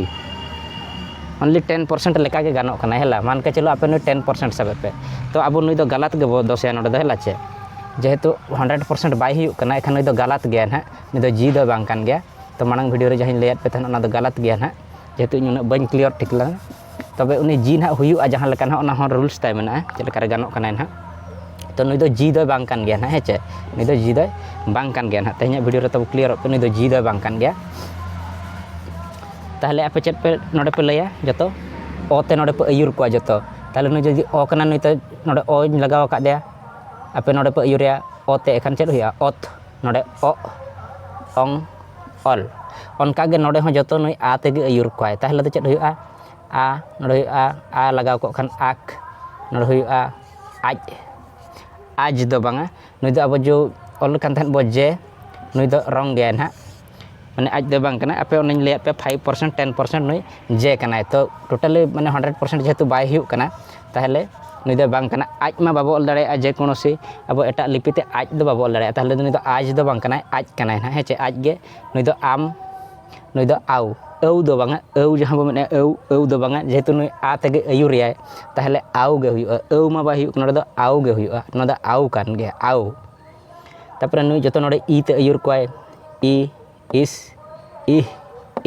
ᱚᱱᱞᱤ ᱴᱮᱱ ᱯᱟᱨᱥᱮᱱᱴ ᱞᱮᱠᱟ ᱜᱮ ᱜᱟᱱᱚᱜ ᱠᱟᱱᱟ ᱦᱮᱸᱞᱟ ᱢᱟᱱ ᱠᱮ ᱪᱚᱞᱚ ᱟᱯᱮ ᱱᱩᱭ ᱴᱮᱱ ᱯᱟᱨᱥᱮᱱᱴ ᱥᱟᱵᱮ ᱯᱮ ᱛᱚ ᱟᱵᱚ ᱱᱩᱭ ᱫᱚ ᱜᱟᱞᱟᱛ ᱜᱮᱵᱚ ᱫᱳᱥᱮᱭᱟ ᱱᱚᱰᱮ ᱫᱚ ᱦᱮᱸᱞᱟ ᱪᱮ ᱡᱮᱦᱮᱛᱩ ᱦᱟᱱᱰᱨᱮᱰ ᱯᱟᱨᱥᱮᱱᱴ ᱵᱟᱭ ᱦᱩᱭᱩᱜ ᱠᱟᱱᱟ ᱮᱱᱠᱷᱟᱱ ᱱᱩᱭ ᱫᱚ ᱜᱟᱞᱟᱛ ᱜᱮᱭᱟᱭ ᱦᱟᱸᱜ ᱱᱩᱭ ᱫᱚ ᱡᱤ ᱫᱚ ᱵᱟᱝ ᱠᱟᱱ ᱜᱮᱭᱟᱭ ᱛᱚ ᱢᱟᱲᱟᱝ ᱵᱷᱤᱰᱭᱳ ᱨᱮ ᱡᱟᱦᱟᱸᱧ ᱞᱟᱹᱭᱟᱫ ᱯᱮ ᱛᱟᱦᱮᱱ ᱚᱱᱟ ᱫᱚ ᱜᱟᱞᱟᱛ ᱜᱮᱭᱟ ᱦᱟᱸᱜ ᱡᱮᱦᱮᱛᱩ ᱤᱧ ᱩᱱᱟᱹᱜ ᱵᱟᱹᱧ ᱠᱞᱤᱭᱟᱨ ᱴᱷᱤᱠ ᱞᱮᱱᱟ ᱛᱚᱵᱮ ᱩᱱᱤ ᱡᱤ ᱦᱟᱸᱜ ᱦᱩᱭᱩᱜᱼᱟ ᱡᱟᱦᱟᱸ ᱞᱮᱠᱟ ᱦᱟᱸᱜ ᱚᱱᱟ ᱦᱚᱸ ᱨᱩᱞᱥ ᱛᱟᱭ ᱢᱮᱱᱟᱜᱼᱟ ᱪᱮᱫ ᱞᱮᱠᱟᱨᱮ ᱜᱟᱱᱚᱜ ᱠᱟᱱᱟᱭ ᱦᱟᱸᱜ ᱛᱚ ᱱᱩᱭ ᱫᱚ ᱡᱤ ᱫᱚᱭ ᱵᱟᱝ ᱠᱟᱱ ᱜᱮᱭᱟ ᱦᱟᱸᱜ ᱦᱮᱸ ᱪᱮ ᱱᱩᱭ ᱫᱚ ᱡᱤ ᱫᱚᱭ ᱵᱟᱝ ᱠᱟᱱ ᱜᱮᱭᱟ ᱦᱟᱸᱜ ᱛᱮᱦᱮᱧᱟᱜ ᱵᱷᱤᱰᱭᱳ ᱨᱮ ᱛᱟᱵᱚ ᱠᱞᱤᱭᱟᱨᱚᱜ ᱠᱟᱱᱟ ᱱᱩᱭ ᱫᱚ ᱡᱤ ᱫᱚᱭ ᱵᱟᱝ ᱠᱟᱱ ᱜᱮᱭᱟ ᱛᱟᱦᱚᱞᱮ ᱟᱯᱮ ᱪᱮᱫ ᱯᱮ ᱱᱚᱰᱮ ᱯᱮ ᱞᱟᱹᱭᱟ ᱡᱚᱛᱚ ᱚ ᱛᱮ ᱱᱚᱰᱮ ᱯᱮ ᱟᱹᱭᱩᱨ ᱠᱚᱣᱟ ᱡᱚᱛᱚ ᱛᱟᱦᱚᱞᱮ ᱱᱩᱭ ᱡᱩᱫᱤ ᱚ ᱠᱟᱱᱟᱭ ᱱᱩᱭ ᱫᱚ ᱱᱚᱰᱮ ᱚ ᱤᱧ ᱞᱟᱜᱟᱣ ᱠᱟᱫᱮᱭᱟ ᱟᱯᱮ ᱱᱚᱰᱮ ᱯᱮ ᱟᱹᱭᱩᱨᱮᱭᱟ ᱚ ᱛᱮ ᱮᱱᱠᱷᱟᱱ ᱪᱮᱫ ᱦᱩᱭᱩᱜᱼᱟ ᱚᱛ ᱱᱚᱰᱮ ᱚᱜ ᱚᱝ ᱚᱞ ᱚᱱᱠᱟᱜᱮ ᱱᱚᱰᱮ ᱦᱚᱸ ᱡᱚᱛᱚ ᱱᱩᱭ ᱟ ᱛᱮᱜᱮ ᱟᱹᱭᱩᱨ ᱠᱚᱣᱟᱭ ᱛᱟᱦᱚᱞᱮ ᱫᱚ ᱪᱮᱫ ᱦᱩᱭᱩᱜᱼᱟ ᱟ ᱱᱚᱰᱮ ᱦᱩᱭᱩᱜᱼᱟ ᱟ ᱞᱟᱜᱟᱣ ᱠᱚᱜ ᱠᱷᱟᱱ ᱟᱠ ᱱᱚᱰᱮ ᱦᱩᱭᱩᱜᱼᱟ ᱟᱡ ᱟᱡᱽ ᱫᱚ ᱵᱟᱝᱟ ᱱᱩᱭ ᱫᱚ ᱟᱵᱚ ᱡᱚ ᱚᱞ ᱞᱮᱠᱷᱟᱱ ᱛᱟᱦᱮᱸᱫ ᱵᱚᱱ ᱡᱮ ᱱᱩᱭ ᱫᱚ ᱨᱚᱝ ᱜᱮᱭᱟᱭ ᱦᱟᱸᱜ ᱢᱟᱱᱮ ᱟᱡ ᱫᱚ ᱵᱟᱝ ᱠᱟᱱᱟ ᱟᱯᱮ ᱚᱱᱟᱧ ᱞᱟᱹᱭᱟᱫ ᱯᱮ ᱯᱷᱟᱭᱤᱵᱷ ᱯᱟᱨᱥᱮᱱᱴ ᱴᱮᱱ ᱯᱟᱨᱥᱮᱱᱴ ᱱᱩᱭ ᱡᱮ ᱠᱟᱱᱟᱭ ᱛᱚ ᱴᱳᱴᱟᱞᱤ ᱢᱟᱱᱮ ᱦᱟᱱᱰᱨᱮᱰ ᱯᱟᱨᱥᱮᱱᱴ ᱡᱮᱦᱮᱛᱩ ᱵᱟᱭ ᱦᱩᱭᱩᱜ ᱠᱟᱱᱟ ᱛᱟᱦᱚᱞᱮ ᱱᱩᱭ ᱫᱚ ᱵᱟᱝ ᱠᱟᱱᱟᱭ ᱟᱡ ᱢᱟ ᱵᱟᱵᱚ ᱚᱞ ᱫᱟᱲᱮᱭᱟᱜᱼᱟ ᱡᱮ ᱠᱳᱱᱳ ᱥᱮ ᱟᱵᱚ ᱮᱴᱟᱜ ᱞᱤᱯᱤ ᱛᱮ ᱟᱡ ᱫᱚ ᱵᱟᱵᱚ ᱚᱞ ᱫᱟᱲᱮᱭᱟᱜᱼᱟ ᱛᱟᱦᱚᱞᱮ ᱱᱩᱭ ᱫᱚ ᱟᱡ ᱫᱚ ᱵᱟᱝ ᱠᱟᱱᱟᱭ ᱟᱡ ᱠᱟᱱᱟᱭ ᱦᱟᱸᱜ ᱦᱮᱸ ᱪᱮ ᱟᱡ ᱜᱮ ᱱᱩᱭ ᱫᱚ ᱟᱢ ᱱᱩᱭ ᱫᱚ ᱟᱣ ᱟᱹᱣ ᱫᱚ ᱵᱟᱝᱟ ᱟᱹᱣ ᱡᱟᱦᱟᱸ ᱵᱚᱱ ᱢᱮᱱᱮᱫᱼᱟ ᱟᱹᱣ ᱟᱹᱣ ᱫᱚ ᱵᱟᱝᱟ ᱡᱮᱦᱮᱛᱩ ᱱᱩᱭ ᱟ ᱛᱮᱜᱮ ᱟᱹᱭᱩᱨᱮᱭᱟᱭ ᱛᱟᱦᱚᱞᱮ ᱟᱣ ᱜᱮ ᱦᱩᱭᱩᱜᱼᱟ ᱟᱹᱣ ᱢᱟ ᱵᱟᱭ ᱦᱩᱭᱩᱜ ᱠᱟᱱᱟ ᱱᱚᱰᱮ ᱫᱚ ᱟᱣ ᱜᱮ ᱦᱩᱭᱩᱜᱼᱟ ᱱᱚᱣᱟ ᱫᱚ ᱟᱣ ᱠᱟᱱ ᱜᱮᱭᱟ ᱟᱣ ᱛᱟᱨᱯᱚᱨᱮ ᱱᱩᱭ ᱡᱚᱛᱚ ᱱᱚᱰᱮ ᱤ ᱛᱮ ᱟᱹᱭᱩᱨ ᱠᱚᱣᱟᱭ ᱤ ᱤᱥ ᱤᱦ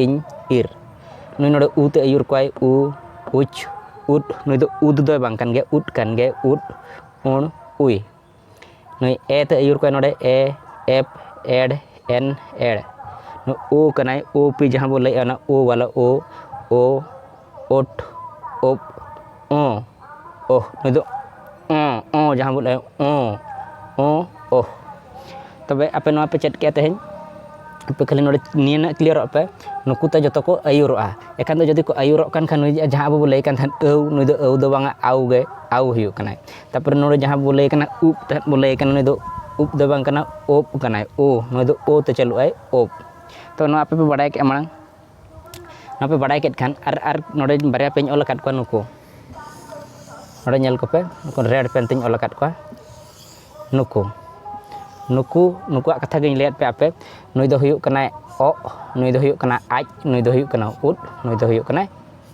ᱤᱧ ᱤᱨ ᱱᱩᱭ ᱱᱚᱰᱮ ᱩ ᱛᱮ ᱟᱹᱭᱩᱨ ᱠᱚᱣᱟᱭ ᱩ ᱩᱪ ᱩᱫ ᱱᱩᱭ ᱫᱚ ᱩᱫ ᱫᱚᱭ ᱵᱟᱝ ᱠᱟᱱ ᱜᱮᱭᱟ ᱩᱫ ᱠᱟᱱ ᱜᱮᱭᱟᱭ ᱩᱫ ᱩᱬ ᱩᱭ ᱱᱩᱭ ᱮ ᱛᱮ ᱟᱹᱭᱩᱨ ᱠᱚᱣᱟᱭ ᱱᱚᱰᱮ ᱮ ᱮᱯ ᱮᱰ ᱮᱱ ᱮᱲ ᱱᱩᱭ ᱳ ᱠᱟᱱᱟᱭ ᱳ ᱯᱤ ᱡᱟᱦᱟᱸ ᱵᱚᱱ ᱞᱟᱹᱭᱮᱫᱼᱟ ᱚᱱᱟ ᱳ ᱵᱟᱞᱟ ᱳ ᱳ ᱳᱴ ᱳᱯ ᱚᱸ ᱳᱦ ᱱᱩᱭ ᱫᱚ ᱚᱸ ᱚᱸ ᱡᱟᱦᱟᱸ ᱵᱚᱱ ᱞᱟᱹᱭᱟ ᱚᱸ ᱚᱸ ᱳᱦ ᱛᱚᱵᱮ ᱟᱯᱮ ᱱᱚᱣᱟ ᱯᱮ ᱪᱮᱫ ᱠᱮᱜᱼᱟ ᱛᱮᱦᱮᱧ ᱟᱯᱮ ᱠᱷᱟᱹᱞᱤ ᱱᱚᱰᱮ ᱱᱤᱭᱟᱹ ᱱᱟᱜ ᱠᱞᱤᱭᱟᱨᱚᱜ ᱯᱮ ᱱᱩᱠᱩ ᱛᱮ ᱡᱚᱛᱚ ᱠᱚ ᱟᱹᱭᱩᱨᱚᱜᱼᱟ ᱮᱱᱠᱷᱟᱱ ᱫᱚ ᱡᱩᱫᱤ ᱠᱚ ᱟᱹᱭᱩᱨᱚᱜ ᱠᱟᱱ ᱠᱷᱟᱱ ᱱᱩᱭ ᱡᱟᱦᱟᱸ ᱟᱵᱚ ᱵᱚᱱ ᱞᱟᱹᱭ ᱠᱟᱱ ᱛᱟᱦᱮᱸᱫ ᱟᱹᱣ ᱱᱩᱭ ᱫᱚ ᱟᱹᱣ ᱫᱚ ᱵᱟᱝᱟ ᱟᱣ ᱜᱮ ᱟᱣ ᱦᱩᱭᱩᱜ ᱠᱟᱱᱟᱭ ᱛᱟᱨᱯᱚᱨᱮ ᱱᱚᱰᱮ ᱡᱟᱦᱟᱸ ᱵᱚᱱ ᱞᱟᱹᱭ ᱠᱟᱱᱟ ᱩᱵ ᱛᱮᱫ ᱵᱚᱱ ᱞᱟᱹᱭ ᱠᱟᱱᱟ ᱱᱩᱭ ᱫᱚ ᱩᱵ ᱫᱚ ᱵᱟᱝ ᱠᱟᱱᱟ ᱳᱯ ᱠᱟᱱᱟᱭ ᱳ ᱱᱩᱭ ᱫᱚ ᱳ ᱛᱮ ᱪᱟᱹᱞᱩᱜᱼᱟᱭ ᱳᱯ ᱛᱚ ᱱᱚᱣᱟ ᱟᱯᱮ ᱯᱮ ᱵᱟᱲᱟᱭ ᱠᱮᱜᱼᱟ ᱢᱟᱲᱟᱝ ᱱᱚᱣᱟ ᱵᱟᱲᱟᱭ ᱠᱮᱫ ᱠᱷᱟᱱ ᱟᱨ ᱟᱨ ᱱᱚᱰᱮ ᱵᱟᱨᱭᱟ ᱯᱮᱧ ᱚᱞ ᱟᱠᱟᱫ ᱠᱚᱣᱟ ᱱᱩᱠᱩ ᱱᱚᱰᱮ ᱧᱮᱞ ᱠᱚᱯᱮ ᱱᱩᱠᱩ ᱨᱮᱰ ᱯᱮᱱ ᱛᱤᱧ ᱚᱞ ᱟᱠᱟᱫ ᱠᱚᱣᱟ ᱱᱩᱠᱩ ᱱᱩᱠᱩ ᱱᱩᱠᱩᱣᱟᱜ ᱠᱟᱛᱷᱟ ᱜᱤᱧ ᱞᱟᱹᱭᱟᱫ ᱯᱮᱭᱟ ᱟᱯᱮ ᱱᱩᱭ ᱫᱚ ᱦᱩᱭᱩᱜ ᱠᱟᱱᱟᱭ ᱚᱜ ᱱᱩᱭ ᱫᱚ ᱦᱩᱭᱩᱜ ᱠᱟᱱᱟᱭ ᱟᱡ ᱱᱩᱭ ᱫᱚ ᱦᱩᱭᱩᱜ ᱠᱟᱱᱟᱭ ᱩᱫ ᱱᱩᱭ ᱫᱚ ᱦᱩᱭᱩᱜ ᱠᱟᱱᱟᱭ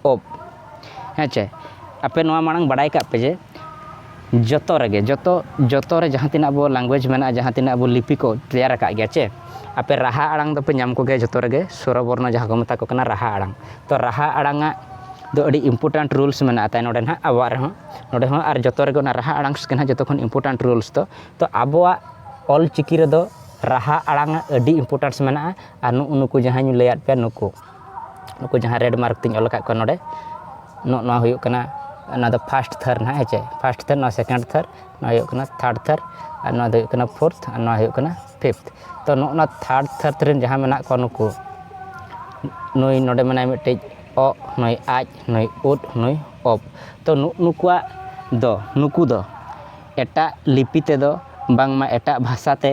ᱳᱯ ᱦᱮᱸ ᱪᱮ ᱟᱯᱮ ᱱᱚᱣᱟ ᱢᱟᱲᱟᱝ ᱵᱟᱰᱟᱭ ᱠᱟᱜ ᱯᱮ ᱡᱮ ᱡᱚᱛᱚ ᱨᱮᱜᱮ ᱡᱚᱛᱚ ᱡᱚᱛᱚ ᱨᱮ ᱡᱟᱦᱟᱸ ᱛᱤᱱᱟᱹᱜ ᱟᱵᱚ ᱞᱮᱝᱜᱩᱭᱮᱡᱽ ᱢᱮᱱᱟᱜᱼᱟ ᱡᱟᱦᱟᱸ ᱛᱤᱱᱟᱹᱜ ᱟᱵᱚ ᱞᱤᱯᱤ ᱠᱚ ᱛᱮᱭᱟᱨ ᱟᱠᱟᱫ ᱜᱮᱭᱟ ᱪᱮ ᱟᱯᱮ ᱨᱟᱦᱟ ᱟᱲᱟᱝ ᱫᱚᱯᱮ ᱧᱟᱢ ᱠᱚᱜᱮᱭᱟ ᱡᱚᱛᱚ ᱨᱮᱜᱮ ᱥᱚᱨᱚ ᱵᱚᱨᱱᱚ ᱡᱟᱦᱟᱸ ᱠᱚ ᱢᱮᱛᱟ ᱠᱚ ᱠᱟᱱᱟ ᱨᱟᱦᱟ ᱟᱲᱟᱝ ᱛᱚ ᱨᱟᱦᱟ ᱟᱲᱟᱝ ᱟᱜ ᱫᱚ ᱟᱹᱰᱤ ᱤᱢᱯᱳᱨᱴᱮᱱᱴ ᱨᱩᱞᱥ ᱢᱮᱱᱟᱜᱼᱟ ᱛᱟᱭ ᱱᱚᱰᱮ ᱦᱟᱸᱜ ᱟᱵᱚᱣᱟᱜ ᱨᱮᱦᱚᱸ ᱱᱚᱰᱮ ᱦᱚᱸ ᱟᱨ ᱡᱚᱛᱚ ᱨᱮᱜᱮ ᱚᱱᱟ ᱨᱟᱦᱟ ᱟᱲᱟᱝ ᱜᱮ ᱦᱟᱸᱜ ᱡᱚᱛᱚ ᱠᱷᱚᱱ ᱤᱢᱯᱳᱨᱴᱮᱱᱴ ᱨᱩᱞᱥ ᱫᱚ ᱛᱚ ᱟᱵᱚᱣᱟᱜ ᱚᱞ ᱪᱤᱠᱤ ᱨᱮᱫᱚ ᱨᱟᱦᱟ ᱟᱲᱟᱝ ᱟᱜ ᱟᱹᱰᱤ ᱤᱢᱯᱳᱨᱴᱮᱱᱥ ᱢᱮᱱᱟᱜᱼᱟ ᱟᱨ ᱱᱩᱜᱼᱩ ᱱᱩᱠᱩ ᱡᱟᱦᱟᱸᱧ ᱞᱟᱹᱭᱟᱫ ᱯᱮᱭᱟ ᱱᱩᱠᱩ ᱱᱩᱠᱩ ᱡᱟᱦᱟᱸ ᱨᱮᱰ ᱢᱟᱨᱠ ᱛᱤᱧ ᱚᱞ ᱟᱠᱟᱫ ᱠᱚᱣᱟ ᱱᱚᱰᱮ ᱱᱚᱜᱼᱚ ᱱᱚᱣᱟ ᱦᱩᱭᱩᱜ ᱠᱟᱱᱟ ᱚᱱᱟ ᱫᱚ ᱯᱷᱟᱥᱴ ᱛᱷᱟᱨ ᱦᱟᱸᱜ ᱦᱮᱸ ᱪᱮ ᱯᱷᱟᱥᱴ ᱛᱷᱟᱨ ᱱᱚᱣᱟ ᱥᱮᱠᱮᱱᱰ ᱛᱷᱟᱨ ᱱᱚᱣᱟ ᱦᱩᱭᱩᱜ ᱠᱟᱱᱟ ᱛᱷᱟᱨᱰ ᱛᱷᱟᱨ ᱟᱨ ᱱᱚᱣᱟ ᱫᱚ ᱦᱩᱭᱩᱜ ᱠᱟᱱᱟ ᱯᱷᱳᱨᱛᱷ ᱟᱨ ᱱᱚᱣᱟ ᱦᱩᱭᱩᱜ ᱠᱟᱱᱟ ᱯᱷᱤᱯᱛᱷ ᱛᱚ ᱱᱚᱜᱼᱚ ᱱᱚᱣᱟ ᱛᱷᱟᱨᱰ ᱛᱷᱟᱨ ᱨᱮᱱ ᱡᱟᱦᱟᱸ ᱢᱮᱱᱟᱜ ᱠᱚᱣᱟ ᱱᱩᱠᱩ ᱱᱩᱭ ᱱᱚᱰᱮ ᱢᱮᱱᱟᱭ ᱢᱤᱫᱴᱤᱡ ᱚᱜ ᱱᱩᱭ ᱟᱡ ᱱᱩᱭ ᱩᱫ ᱱᱩᱭ ᱚᱯ ᱛᱚ ᱱᱩᱜ ᱱᱩᱠᱩᱣᱟᱜ ᱫᱚ ᱱᱩᱠᱩ ᱫᱚ ᱮᱴᱟᱜ ᱞᱤᱯᱤ ᱛᱮᱫᱚ ᱵᱟᱝᱢᱟ ᱮᱴᱟᱜ ᱵᱷᱟᱥᱟᱛᱮ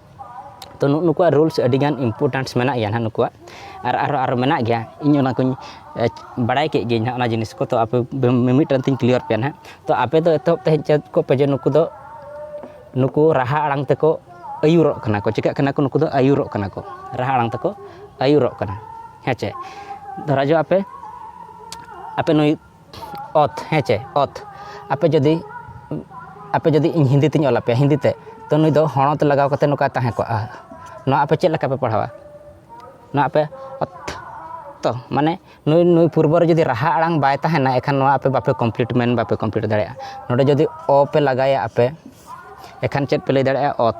ᱛᱚ ᱱᱩᱜ ᱱᱩᱠᱩᱣᱟᱜ ᱨᱩᱞᱥ ᱟᱹᱰᱤᱜᱟᱱ ᱤᱢᱯᱚᱨᱴᱮᱱᱥ ᱢᱮᱱᱟᱜ ᱜᱮᱭᱟ ᱱᱟᱦᱟᱜ ᱱᱩᱠᱩᱣᱟᱜ ᱟᱨ ᱟᱨᱚ ᱟᱨᱚ ᱢᱮᱱᱟᱜ ᱜᱮᱭᱟ ᱤᱧ ᱚᱱᱟ ᱠᱚᱧ ᱵᱟᱲᱟᱭ ᱠᱮᱫ ᱜᱤᱭᱟᱹᱧ ᱦᱟᱸᱜ ᱚᱱᱟ ᱡᱤᱱᱤᱥ ᱠᱚ ᱛᱚ ᱟᱯᱮ ᱢᱤᱢᱤᱫᱴᱟᱝ ᱛᱤᱧ ᱠᱞᱤᱭᱟᱨ ᱯᱮᱭᱟ ᱱᱟᱦᱟᱜ ᱛᱚ ᱟᱯᱮ ᱫᱚ ᱮᱛᱚᱦᱚᱵ ᱛᱮ ᱦᱮᱡ ᱪᱮᱫ ᱠᱚᱜ ᱯᱮ ᱡᱮ ᱱᱩᱠᱩ ᱫᱚ ᱱᱩᱠᱩ ᱨᱟᱦᱟ ᱟᱲᱟᱝ ᱛᱮᱠᱚ ᱟᱹᱭᱩᱨᱚᱜ ᱠᱟᱱᱟ ᱠᱚ ᱪᱤᱠᱟᱹᱜ ᱠᱟᱱᱟ ᱠᱚ ᱱᱩᱠᱩ ᱫᱚ ᱟᱹᱭᱩᱨᱚᱜ ᱠᱟᱱᱟ ᱠᱚ ᱨᱟᱦᱟ ᱟᱲᱟᱝ ᱛᱮᱠᱚ ᱟᱹᱭᱩᱨᱚᱜ ᱠᱟᱱᱟ ᱦᱮᱸ ᱪᱮ ᱫᱷᱚᱨᱟ ᱡᱟᱠ ᱟᱯᱮ ᱟᱯᱮ ᱱᱩᱭ ᱚᱛ ᱦᱮᱸ ᱪᱮ ᱚᱛ ᱟᱯᱮ ᱡᱩᱫᱤ ᱟᱯᱮ ᱡᱩᱫᱤ ᱤᱧ ᱦᱤᱱᱫᱤ ᱛᱤᱧ ᱚᱞ ᱟᱯᱮᱭᱟ ᱦᱤᱱᱫᱤ ᱛᱮ ᱛᱳ ᱱᱩᱭ ᱫᱚ ᱦᱚᱲᱚᱛ ᱞᱟᱜᱟᱣ ᱠᱟᱛᱮ ᱱᱚᱝᱠᱟᱭ ᱛᱟᱦᱮᱸ ᱠᱚᱜᱼᱟ ᱱᱚᱣᱟ ᱟᱯᱮ ᱪᱮᱫ ᱞᱮᱠᱟ ᱯᱮ ᱯᱟᱲᱦᱟᱣᱟ ᱱᱚᱣᱟ ᱟᱯᱮ ᱚᱛ ᱛᱚ ᱢᱟᱱᱮ ᱱᱩᱭ ᱱᱩᱭ ᱯᱩᱨᱵᱚ ᱨᱮ ᱡᱩᱫᱤ ᱨᱟᱦᱟ ᱟᱲᱟᱝ ᱵᱟᱭ ᱛᱟᱦᱮᱱᱟ ᱮᱱᱠᱷᱟᱱ ᱱᱚᱣᱟ ᱟᱯᱮ ᱵᱟᱯᱮ ᱠᱚᱢᱯᱞᱤᱴ ᱢᱮᱱ ᱵᱟᱯᱮ ᱠᱚᱢᱯᱞᱤᱴ ᱫᱟᱲᱮᱭᱟᱜᱼᱟ ᱱᱚᱰᱮ ᱡᱩᱫᱤ ᱚ ᱯᱮ ᱞᱟᱜᱟᱭᱟ ᱟᱯᱮ ᱮᱱᱠᱷᱟᱱ ᱪᱮᱫ ᱯᱮ ᱞᱟᱹᱭ ᱫᱟᱲᱮᱭᱟᱜᱼᱟ ᱚᱛ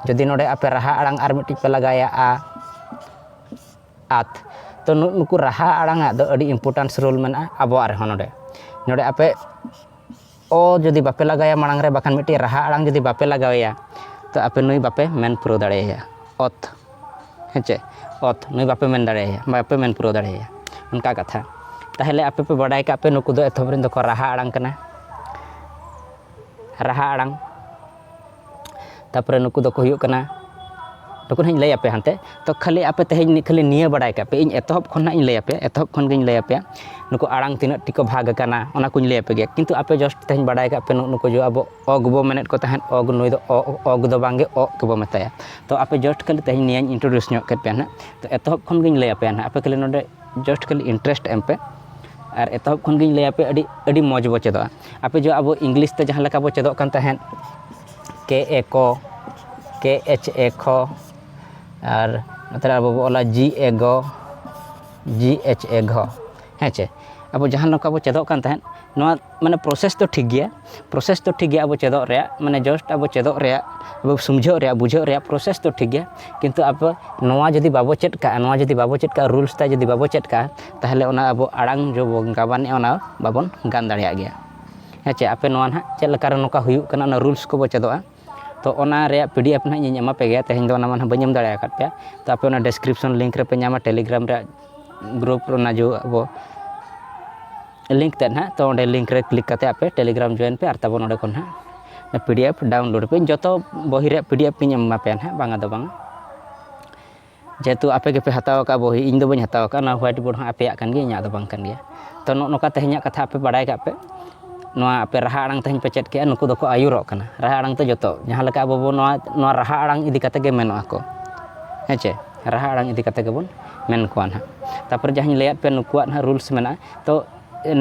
ᱡᱩᱫᱤ ᱱᱚᱰᱮ ᱟᱯᱮ ᱨᱟᱦᱟ ᱟᱲᱟᱝ ᱟᱨ ᱢᱤᱫᱴᱤᱡ ᱯᱮ ᱞᱟᱜᱟᱭᱟ ᱟ ᱟᱛ ᱛᱚ ᱱᱩᱠᱩ ᱨᱟᱦᱟ ᱟᱲᱟᱝ ᱟᱜ ᱫᱚ ᱟᱹᱰᱤ ᱤᱢᱯᱚᱨᱴᱟᱱᱥ ᱨᱳᱞ ᱢᱮᱱᱟᱜᱼᱟ ᱟᱵᱚᱣᱟᱜ ᱨᱮᱦᱚᱸ ᱱᱚᱰᱮ ᱱᱚᱰᱮ ᱟᱯᱮ ᱚ ᱡᱩᱫᱤ ᱵᱟᱯᱮ ᱞᱟᱜᱟᱭᱟ ᱢᱟᱲᱟᱝ ᱨᱮ ᱵᱟᱠᱷᱟᱱ ᱢᱤᱫᱴᱤᱡ ᱨᱟᱦᱟ ᱟᱲᱟᱝ ᱡᱩᱫᱤ ᱵᱟᱯᱮ ᱞᱟᱜᱟᱣᱮᱭᱟ ᱛᱚ ᱟᱯᱮ ᱱᱩᱭ ᱵᱟᱯᱮ ᱢᱮᱱ ᱯᱩᱨᱟᱹᱣ ᱫᱟᱲᱮᱭᱟᱭᱟ ᱚᱛ ᱦᱮᱸᱪᱮ ᱚᱛ ᱱᱩᱭ ᱵᱟᱯᱮ ᱢᱮᱱ ᱫᱟᱲᱮᱭᱟᱭᱟ ᱵᱟᱯᱮ ᱢᱮᱱ ᱯᱩᱨᱟᱹᱣ ᱫᱟᱲᱮᱭᱟᱭᱟ ᱚᱱᱠᱟ ᱠᱟᱛᱷᱟ ᱛᱟᱦᱚᱞᱮ ᱟᱯᱮ ᱯᱮ ᱵᱟᱰᱟᱭ ᱠᱟᱜ ᱯᱮ ᱱᱩᱠᱩ ᱫᱚ ᱮᱛᱚᱦᱚᱵ ᱨᱮᱱ ᱫᱚᱠᱚ ᱨᱟᱦᱟ ᱟᱲᱟᱝ ᱠᱟᱱᱟ ᱨᱟᱦᱟ ᱟᱲᱟᱝ ᱛᱟᱨᱯᱚᱨᱮ ᱱᱩᱠᱩ ᱫᱚᱠᱚ ᱦᱩᱭᱩᱜ ᱠᱟᱱᱟ ᱱᱩᱠᱩ ᱦᱟᱸᱜ ᱤᱧ ᱞᱟᱹᱭ ᱟᱯᱮᱭᱟ ᱦᱟᱱᱛᱮ ᱛᱚ ᱠᱷᱟᱹᱞᱤ ᱟᱯᱮ ᱛᱮᱦᱮᱧ ᱠᱷᱟᱹᱞᱤ ᱱᱤᱭᱟᱹ ᱵᱟᱲᱟᱭ ᱠᱟᱜ ᱯᱮ ᱤᱧ ᱮᱛᱚᱦᱚᱵ ᱠᱷᱚᱱ ᱦᱟᱸᱜ ᱤᱧ ᱞᱟᱹᱭ ᱟᱯᱮᱭᱟ ᱮᱛᱚᱦᱚᱵ ᱠᱷᱚᱱ ᱜᱤᱧ ᱞᱟᱹᱭ ᱟᱯᱮᱭᱟ ᱱᱩᱠᱩ ᱟᱲᱟᱝ ᱛᱤᱱᱟᱹᱜ ᱴᱷᱤᱠ ᱠᱚ ᱵᱷᱟᱜᱽ ᱠᱟᱱᱟ ᱚᱱᱟ ᱠᱚᱧ ᱞᱟᱹᱭ ᱟᱯᱮ ᱜᱮᱭᱟ ᱠᱤᱱᱛᱩ ᱟᱯᱮ ᱡᱟᱥᱴ ᱛᱮᱦᱮᱧ ᱵᱟᱲᱟᱭ ᱠᱟᱜ ᱯᱮ ᱱᱩᱠᱩ ᱡᱮ ᱟᱵᱚ ᱚ ᱜᱮᱵᱚ ᱢᱮᱱᱮᱫ ᱠᱚ ᱛᱟᱦᱮᱸᱫ ᱚ ᱱᱩᱭ ᱫᱚ ᱚ ᱚ ᱫᱚ ᱵᱟᱝᱜᱮ ᱚᱜ ᱜᱮᱵᱚ ᱢᱮᱛᱟᱭᱟ ᱛᱚ ᱟᱯᱮ ᱡᱟᱥᱴ ᱠᱷᱟᱹᱞᱤ ᱛᱮᱦᱮᱧ ᱱᱤᱭᱟᱹᱧ ᱤᱱᱴᱨᱳᱰᱤᱭᱩᱥ ᱧᱚᱜ ᱠᱮᱫ ᱯᱮᱭᱟ ᱦᱟᱸᱜ ᱛᱚ ᱮᱛᱚᱦᱚᱵ ᱠᱷᱚᱱ ᱜᱤᱧ ᱞᱟᱹᱭ ᱟᱯᱮᱭᱟ ᱦᱟᱸᱜ ᱟᱯᱮ ᱠᱷᱟᱹᱞᱤ ᱱᱚᱰᱮ ᱡᱟᱥᱴ ᱠᱷᱟᱹᱞᱤ ᱤᱱᱴᱟᱨᱮᱥᱴ ᱮᱢ ᱯᱮ ᱟᱨ ᱮᱛᱚᱦᱚᱵ ᱠᱷᱚᱱ ᱜᱤᱧ ᱞᱟᱹᱭ ᱟᱯᱮᱭᱟ ᱟᱹᱰᱤ ᱟᱹᱰᱤ ᱢᱚᱡᱽ ᱵᱚ ᱪᱮᱫᱚᱜᱼᱟ ᱟᱯᱮ ᱡᱚ ᱟᱵᱚ ᱤᱝᱞᱤᱥ ᱛᱮ ᱡᱟᱦᱟᱸ ᱞᱮᱠᱟ ᱵᱚ ᱪᱮᱫᱚᱜ ᱠᱟᱱ ᱛᱟᱦᱮᱸᱫ ᱠᱮ ᱮ ᱠᱚ ᱠᱮ ᱮᱪ ᱮ ᱠᱷᱚ ᱟᱨ ᱱᱚᱛᱮᱨᱮ ᱟᱵᱚ ᱵᱚ ᱚᱞᱟ ᱡᱤ ᱮ ᱜᱚ ᱡᱤ ᱮᱪ ᱮ ᱜᱷᱚ ᱦᱮᱸ ᱪᱮ ᱟᱵᱚ ᱡᱟᱦᱟᱸ ᱱᱚᱝᱠᱟ ᱵᱚ ᱪᱮᱫᱚᱜ ᱠᱟᱱ ᱛᱟᱦᱮᱸᱫ ᱱᱚᱣᱟ ᱢᱟᱱᱮ ᱯᱨᱚᱥᱮᱥ ᱫᱚ ᱴᱷᱤᱠ ᱜᱮᱭᱟ ᱯᱨᱚᱥᱮᱥ ᱫᱚ ᱴᱷᱤᱠ ᱜᱮᱭᱟ ᱟᱵᱚ ᱪᱮᱫᱚᱜ ᱨᱮᱭᱟᱜ ᱢᱟᱱᱮ ᱡᱟᱥᱴ ᱟᱵᱚ ᱪᱮᱫᱚᱜ ᱨᱮᱭᱟᱜ ᱟᱵᱚ ᱥᱩᱢᱡᱷᱟᱹᱜ ᱨᱮᱭᱟᱜ ᱵᱩᱡᱷᱟᱹᱜ ᱨᱮᱭᱟᱜ ᱯᱨᱚᱥᱮᱥ ᱫᱚ ᱴᱷᱤᱠ ᱜᱮᱭᱟ ᱠᱤᱱᱛᱩ ᱟᱵᱚ ᱱᱚᱣᱟ ᱡᱩᱫᱤ ᱵᱟᱵᱚ ᱪᱮᱫ ᱠᱟᱜᱼᱟ ᱱᱚᱣᱟ ᱡᱩᱫᱤ ᱵᱟᱵᱚ ᱪᱮᱫ ᱠᱟᱜᱼᱟ ᱨᱩᱞᱥ ᱛᱟᱭ ᱡᱩᱫᱤ ᱵᱟᱵᱚ ᱪᱮᱫ ᱠᱟᱜᱼᱟ ᱛᱟᱦᱚᱞᱮ ᱚᱱᱟ ᱟᱵᱚ ᱟᱲᱟᱝ ᱡᱚ ᱵᱚᱱ ᱜᱟᱵᱟᱱᱮᱜᱼᱟ ᱚᱱᱟ ᱵᱟᱵᱚᱱ ᱜᱟᱱ ᱫᱟᱲᱮᱭᱟᱜ ᱜᱮᱭᱟ ᱦᱮᱸ ᱪᱮ ᱟᱯᱮ ᱱᱚᱣᱟ ᱱᱟᱦᱟᱜ ᱪᱮᱫ ᱞᱮᱠᱟᱨᱮ ᱱᱚᱝᱠᱟ ᱦᱩᱭᱩᱜ ᱠᱟᱱᱟ ᱚᱱᱟ ᱨᱩᱞᱥ ᱠᱚᱵᱚᱱ ᱪᱮᱫᱚᱜᱼᱟ ᱛᱳ ᱚᱱᱟ ᱨᱮᱭᱟᱜ ᱯᱤ ᱰᱤ ᱮᱯᱷ ᱱᱟᱦᱟᱜ ᱤᱧ ᱮᱢᱟ ᱯᱮᱜᱮᱭᱟ ᱛᱮᱦᱮᱧ ᱫᱚ ᱚᱱᱟ ᱢᱟ ᱱᱟᱦᱟᱜ ᱵᱟᱹᱧ ᱮᱢ ᱫᱟᱲᱮ ᱟᱠᱟᱫ ᱯᱮᱭᱟ ᱛᱳ ᱟᱯᱮ ᱚᱱᱟ ᱰᱤᱥᱠᱨᱤᱯᱥᱚᱱ ᱞᱤᱝᱠ ᱨᱮᱯᱮ ᱧᱟᱢᱟ ᱴᱮᱞᱤᱜᱨᱟᱢ ᱨᱮᱭᱟᱜ ᱜᱨᱩᱯ ᱚᱱᱟ ᱡᱮ ᱟᱵᱚ ᱞᱤᱝᱠ ᱛᱮᱫ ᱱᱟᱦᱟᱜ ᱛᱳ ᱚᱸᱰᱮ ᱞᱤᱝᱠ ᱨᱮ ᱠᱞᱤᱠ ᱠᱟᱛᱮᱫ ᱟᱯᱮ ᱴᱮᱞᱤᱜᱨᱟᱢ ᱡᱚᱭᱮᱱ ᱯᱮ ᱟᱨ ᱛᱟᱵᱚᱱ ᱱᱚᱰᱮ ᱠᱷᱚᱱ ᱦᱟᱸᱜ ᱯᱤ ᱰᱤ ᱮᱯᱷ ᱰᱟᱣᱩᱱᱞᱳᱰ ᱟᱯᱮ ᱡᱚᱛᱚ ᱵᱳᱭ ᱨᱮᱭᱟᱜ ᱯᱤ ᱰᱤ ᱮᱯᱷ ᱤᱧ ᱮᱢᱟ ᱯᱮᱭᱟ ᱱᱟᱦᱟᱜ ᱵᱟᱝᱟ ᱫᱚ ᱵᱟᱝ ᱡᱮᱦᱮᱛᱩ ᱟᱯᱮ ᱜᱮᱯᱮ ᱦᱟᱛᱟᱣ ᱟᱠᱟᱫᱼᱟ ᱵᱚᱦᱤ ᱤᱧ ᱫᱚ ᱵᱟᱹᱧ ᱦᱟᱛᱟᱣ ᱟᱠᱟᱫᱼᱟ ᱱᱚᱣᱟ ᱦᱳᱣᱟᱭᱤᱴ ᱵᱳᱨᱰ ᱦᱚᱸ ᱟᱯᱮᱭᱟᱜ ᱠᱟᱱ ᱜᱮᱭᱟ ᱤᱧᱟᱹᱜ ᱫᱚ ᱵᱟᱝ ᱠᱟᱱ ᱜᱮᱭᱟ ᱛᱳ ᱱᱚᱜᱼᱚᱸᱭ ᱱᱚᱝᱠᱟ ᱛᱮᱦᱮᱧᱟᱜ ᱠᱟᱛᱷᱟ ᱟᱯᱮ ᱵᱟᱲᱟᱭ ᱠᱟᱜ ᱯᱮ ᱱᱚᱣᱟ ᱟᱯᱮ ᱨᱟᱦᱟ ᱟᱲᱟᱝ ᱛᱮᱦᱮᱧ ᱯᱮ ᱪᱮᱫ ᱠᱮᱜᱼᱟ ᱱᱩᱠᱩ ᱫᱚᱠᱚ ᱟᱹᱭᱩᱨᱚᱜ ᱠᱟᱱᱟ ᱨᱟᱦᱟ ᱟᱲᱟᱝ ᱛᱮ ᱡᱚᱛᱚ ᱡᱟᱦᱟᱸ ᱞᱮᱠᱟ ᱟᱵᱚ ᱵᱚᱱ ᱱᱚᱣᱟ ᱨᱟᱦᱟ ᱟᱲᱟᱝ ᱤᱫᱤ ᱠᱟᱛᱮ ᱜᱮ ᱢᱮᱱᱚᱜ ᱟᱠᱚ ᱦᱮᱸ ᱪᱮ ᱨᱟᱦᱟ ᱟᱲᱟᱝ ᱤᱫᱤ ᱠᱟᱛᱮ ᱜᱮᱵᱚᱱ ᱢᱮᱱ ᱠᱚᱣᱟ ᱦᱟᱸᱜ ᱛᱟᱨᱯᱚᱨᱮ ᱡᱟᱦᱟᱸᱧ ᱞᱟᱹᱭᱟᱜ ᱯᱮᱭᱟ ᱱᱩᱠᱩᱣᱟᱜ ᱦᱟᱸᱜ ᱨᱩᱞᱥ ᱢᱮᱱᱟᱜᱼᱟ ᱛᱳ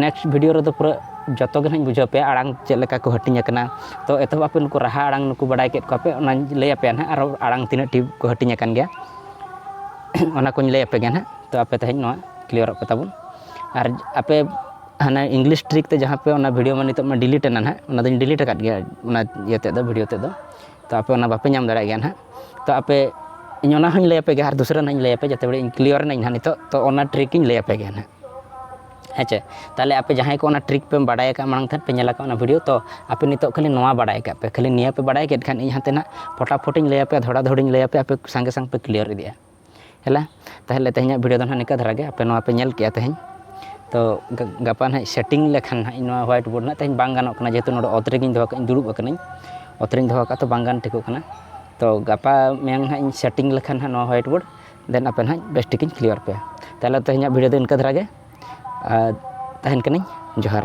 ᱱᱮᱠᱥᱴ ᱵᱷᱤᱰᱤᱭᱳ ᱨᱮᱫᱚ ᱯᱩᱨᱟᱹ ᱡᱚᱛᱚ ᱜᱮ ᱱᱟᱦᱟᱜ ᱵᱩᱡᱷᱟᱹᱣ ᱯᱮᱭᱟ ᱟᱲᱟᱝ ᱪᱮᱫ ᱞᱮᱠᱟ ᱠᱚ ᱦᱟᱹᱴᱤᱧ ᱟᱠᱟᱱᱟ ᱛᱚ ᱮᱛᱚᱦᱚᱵ ᱟᱯᱮ ᱱᱩᱠᱩ ᱨᱟᱦᱟ ᱟᱲᱟᱝ ᱱᱩᱠᱩ ᱵᱟᱰᱟᱭ ᱠᱮᱫ ᱠᱚᱣᱟᱯᱮ ᱚᱱᱟᱧ ᱞᱟᱹᱭ ᱟᱯᱮᱭᱟ ᱱᱟᱦᱟᱜ ᱟᱨᱚ ᱟᱲᱟᱝ ᱛᱤᱱᱟᱹᱜ ᱴᱤ ᱠᱚ ᱦᱟᱹᱴᱤᱧ ᱟᱠᱟᱱ ᱜᱮᱭᱟ ᱚᱱᱟ ᱠᱚᱧ ᱞᱟᱹᱭ ᱟᱯᱮ ᱜᱮᱭᱟ ᱱᱟᱦᱟᱜ ᱛᱚ ᱟᱯᱮ ᱛᱮᱦᱮᱧ ᱱᱚᱣᱟ ᱠᱞᱤᱭᱟᱨᱚᱜ ᱯᱮ ᱛᱟᱵᱚᱱ ᱟᱨ ᱟᱯᱮ ᱦᱟᱱᱟ ᱤᱝᱞᱤᱥ ᱴᱨᱤᱠ ᱛᱮ ᱡᱟᱦᱟᱸ ᱯᱮ ᱚᱱᱟ ᱵᱷᱤᱰᱤᱭᱳ ᱢᱟ ᱱᱤᱛᱚᱜ ᱢᱟ ᱰᱤᱞᱤᱴ ᱮᱱᱟ ᱱᱟᱦᱟᱜ ᱚᱱᱟ ᱫᱚᱧ ᱰᱤᱞᱤᱴ ᱟᱠᱟᱫ ᱜᱮᱭᱟ ᱚᱱᱟ ᱤᱭᱟᱹ ᱛᱮᱫ ᱫᱚ ᱵᱷᱤᱰᱤᱭᱳ ᱛᱮᱫ ᱫᱚ ᱛᱚ ᱟᱯᱮ ᱚᱱᱟ ᱵᱟᱯᱮ ᱧᱟᱢ ᱫᱟᱲᱮᱭᱟᱜ ᱜᱮᱭᱟ ᱱᱟᱦᱟᱜ ᱛᱚ ᱟᱯᱮ ᱤᱧ ᱚᱱᱟ ᱦᱚᱧ ᱞᱟᱹᱭ ᱟᱯᱮ ᱜᱮᱭᱟ ᱟᱨ ᱫᱩᱥᱨᱟᱹ ᱱᱟᱦᱟᱜ ᱤᱧ ᱞᱟᱹᱭ ᱟᱯᱮᱭᱟ ᱡᱟᱛᱮ ᱵᱟᱲᱮ ᱤᱧ ᱠᱞᱤᱭᱟᱨ ᱮᱱᱟᱹᱧ ᱱᱟᱦᱟᱜ ᱱᱤᱛᱚᱜ ᱛᱚ ᱚᱱᱟ ᱴᱨᱤᱠ ᱤᱧ ᱞᱟᱹᱭ ᱟᱯᱮ ᱜᱮᱭᱟ ᱱᱟᱦᱟᱜ ᱦᱮᱸ ᱪᱮ ᱛᱟᱦᱚᱞᱮ ᱟᱯᱮ ᱡᱟᱦᱟᱸᱭ ᱠᱚ ᱚᱱᱟ ᱴᱨᱤᱠ ᱯᱮ ᱵᱟᱰᱟᱭ ᱟᱠᱟᱫ ᱢᱟᱲᱟᱝ ᱛᱮ ᱯᱮ ᱧᱮᱞ ᱟᱠᱟᱫ ᱚᱱᱟ ᱵᱷᱤᱰᱤᱭᱳ ᱛᱚ ᱟᱯᱮ ᱱᱤᱛᱚᱜ ᱠᱷᱟᱹᱞᱤ ᱱᱚᱣᱟ ᱵᱟᱰᱟᱭ ᱠᱟᱜ ᱯᱮ ᱠᱷᱟᱹᱞᱤ ᱱᱤᱭᱟᱹ ᱯᱮ ᱵᱟᱰᱟᱭ ᱠᱮᱫ ᱠᱷᱟᱱ ᱤᱧ ᱦᱟᱱᱛᱮ ᱱᱟᱜ ᱯᱷᱚᱴᱟᱯᱷᱚᱴᱤᱧ ᱞᱟᱹᱭ ᱟᱯᱮᱭᱟ ᱫᱷᱚᱲᱟ ᱫᱷᱚᱲᱤᱧ ᱞᱟᱹᱭ ᱟᱯᱮᱭᱟ ᱟᱯᱮ ᱥᱟᱸᱜᱮ ᱥᱟᱝ ᱯᱮ ᱠᱞᱤᱭᱟᱨ ᱤᱫᱤᱜᱼᱟ ᱦᱮᱞᱟ ᱛᱟᱦᱚᱞᱮ ᱛᱮᱦᱮᱧᱟᱜ ᱵᱷᱤᱰᱤᱭᱳ ᱫᱚ ᱱᱟᱦᱟᱜ ᱱᱤᱝᱠᱟ ᱫᱷᱟᱨᱟ ᱜᱮ ᱟᱯᱮ ᱱᱚᱣᱟ ᱯᱮ ᱧᱮᱞ ᱠᱮᱜᱼᱟ ᱛᱮᱦᱮᱧ ᱛᱚ ᱜᱟᱯᱟ ᱱᱟᱦᱟᱜ ᱥᱮᱴᱤᱝ ᱞᱮᱠᱷᱟᱱ ᱱᱟᱦᱟᱜ ᱤᱧ ᱱᱚᱣᱟ ᱦᱳᱣᱟᱭᱤᱴ ᱵᱳᱨᱰ ᱱᱟᱦᱟᱜ ᱛᱮᱦᱮᱧ ᱵᱟᱝ ᱜᱟᱱᱚᱜ ᱠᱟᱱᱟ ᱡᱮᱦᱮᱛᱩ ᱱᱚᱰᱮ ᱚᱛ ᱨᱮᱜᱮᱧ ᱫᱚᱦᱚ ᱠᱟᱜ ᱤᱧ ᱫᱩᱲᱩᱵ ᱟᱠᱟᱱᱟᱹᱧ ᱚᱛ ᱨᱤᱧ ᱫᱚᱦᱚ ᱠᱟᱜᱼᱟ ᱛᱚ ᱵᱟᱝ ᱜᱟᱱ ᱴᱷᱤᱠᱚᱜ ᱠᱟᱱᱟ ᱛᱚ ᱜᱟᱯᱟ ᱢᱮᱭᱟᱝ ᱱᱟᱦᱟᱜ ᱤᱧ ᱥᱮᱴᱤᱝ ᱞᱮᱠᱷᱟᱱ ᱱᱟᱦᱟᱜ ᱱᱚᱣᱟ ᱦᱳᱣᱟᱭᱤᱴ ᱵᱳᱨᱰ ᱫᱮᱱ ᱟᱯᱮ ᱱᱟᱦᱟᱜ ᱵᱮᱥ ᱴᱷᱤᱠᱤᱧ ᱠᱞᱤᱭᱟᱨ ᱯᱮᱭᱟ ᱛᱟᱦᱚᱞᱮ ᱛᱮᱦᱮᱧᱟᱜ ᱵᱷᱤᱰᱤᱭᱳ ᱫᱚ ᱤᱱᱠᱟᱹ ᱫᱷᱟᱨᱟ ᱜᱮ ᱟᱨ ᱛᱟᱦᱮᱱ ᱠᱟᱹᱱᱟᱹᱧ ᱡᱚᱦᱟᱨ